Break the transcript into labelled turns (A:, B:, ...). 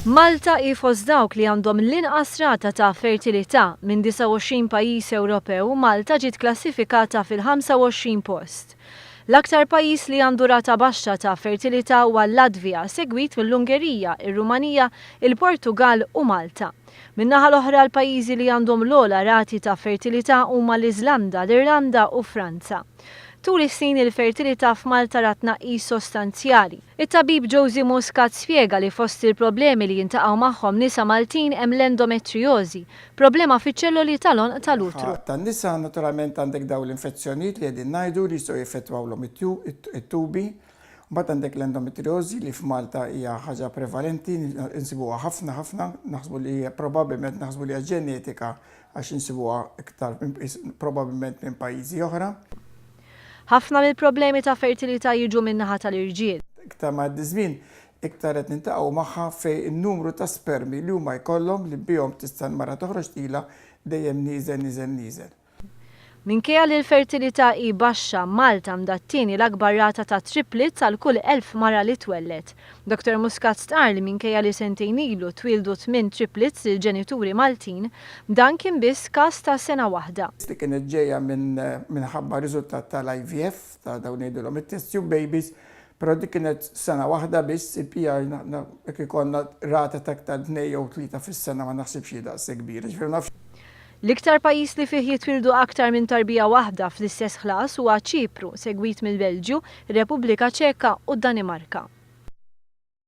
A: Malta hi fost dawk li għandhom l-inqas rata ta' fertilità, minn 29 pajjiż Ewropew, Malta ġiet klassifikata fil-25 post. L-aktar pajjiż li għandu rata baxxa ta' fertilità huwa l-Latvja, segwit mill-Ungerija, ir-Rumanija, il-Portugall u Malta. Min-naħa l-oħra, l-pajjiżi li għandhom l-ogħla rati ta' fertilità huma l-Iżlanda, l-Irlanda u Franza. Tul is-snin il-fertilità f'Malta rat tnaqqis sostanzjali. It-tabib Josy Muscat spjega li fost il-problemi li jiltaqgħu magħhom nisa Maltin hemm l-endometrijożi, problema fiċ-ċelloli tal-għonq tal-utru. F'ħafna nisa naturalment
B: għandek dawn l-infezzjonijiet li qegħdin ngħidu li jistgħu jeffettwawlhom it-tubi. Mbagħad għandek l-endometrijożi li f'Malta hija ħaġa prevalenti, insibuha ħafna ħafna, naħsbu li hija probabbilment naħsbu li hija ġenetika għax insibuha iktar inqis probabbilment minn pajjiżi oħra. Ħafna
A: mill-problemi ta' fertilità jiġu min-naħa tal-irġiel. Iktar ma jgħaddi ż-żmien,
B: iktar qed niltaqgħu magħha fejn in-numru ta' spermi li huma jkollhom li bihom tista' l-mara toħroġ tqila dejjem nieżel, nieżel, nieżel. Minkejja li l-fertilità
A: hi baxxa, Malta għandha t-tieni l-akbar rata ta' triplets għal kull elf mara li twelled. Doctor Muscat stqarr li minkejja li sentejn ilu twieldu tmien triplets lil ġenituri Maltin, dan kien biss każ ta' sena waħda. li kienet ġejja minn
B: minħabba riżultat tal-IVF, ta' dawn ngħidilhom it-test tube babies, però dik kienet sena waħda biss, il-PR aħna jekk ikollna rata ta' iktar tnejn jew tlieta fis-sena ma naħsibx hi daqshekk kbira. Jiġifieri ma nafx. L-iktar
A: pajjiż li fih jitwieldu aktar minn tarbija waħda fl-istess ħlas huwa Ċipru, segwit mill-Belġju, ir-Repubblika Ċeka u d-Danimarka.